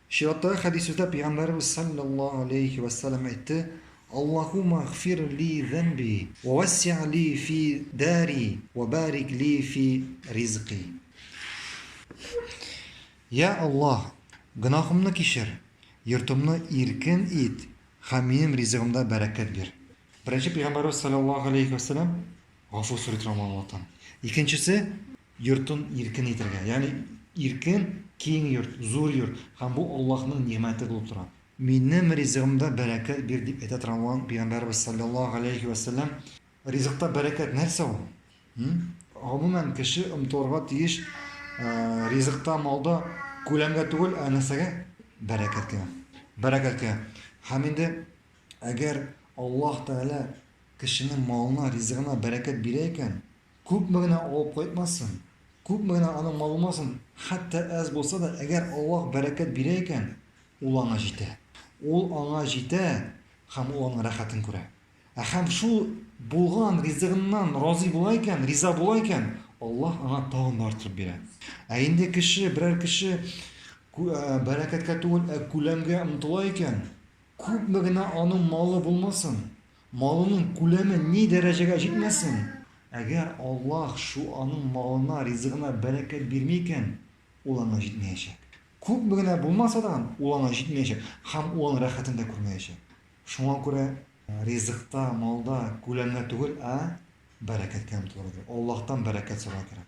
Чираттагы хәдисләрдә Пәйгамбәребез салләллаһу галәйһи вә сәлам әйтте, Аллаһуммә гфир ли зәнби, вә вәсси ли фи дари, вә бәрик ли фи ризки. Йә Аллаһ, гөнаһымны кичер, йортымны иркен ит һәм минем ризыгымда бәрәкәт бир. Беренче Пәйгамбәребез салләллаһу галәйһи вә сәлам гафу сорый торган булган вакыттан. Икенчесе, Йортын иркен итергә, ягъни иркен, киң йорт, зур йорт, һәм бу Аллаһның нигъмәте булып тора. Минем ризыгымда бәрәкәт бир, дип әйтә торган булган Пәйгамбәребез салләллаһу галәйһи вә сәлләм, ризыкта бәрәкәт нәрсә ул? Гомумән, кеше омтылырга тиеш ризыкта, малда күләмгә түгел, ә нәрсәгә? Бәрәкәткә. Бәрәкәткә. Һәм инде әгәр Аллаһ Тәгалә кешенең малына, ризыгына бәрәкәт бирә икән, Күпме генә алып кайтмасын, күпме генә аның малы булмасын, хәтта әз булса да, әгәр Аллаһ бәрәкәт бирә икән, ул аңа җитә. Ул аңа җитә һәм ул аның рәхәтен күрә. Ә һәм шул булган ризыгыннан разый була икән, риза була икән, Аллаһ аңа тагын да арттырып бирә. Ә инде кеше, берәр кеше бәрәкәткә түгел, ә күләмгә омтыла икән, күпме генә аның малы булмасын, Малының күләме ни дәрәҗәгә җитмәсен, әгәр Аллаһ шу аның малына, ризыгына бәрәкәт бирми икән, ул аңа җитмәячәк. Күпме генә булмаса да, ул аңа җитмәячәк һәм ул аның рәхәтен дә күрмәячәк. Шуңа күрә ризыкта, малда күләмгә түгел, ә бәрәкәткә омтылырга кирәк. Аллаһтан бәрәкәт сорарга кирәк.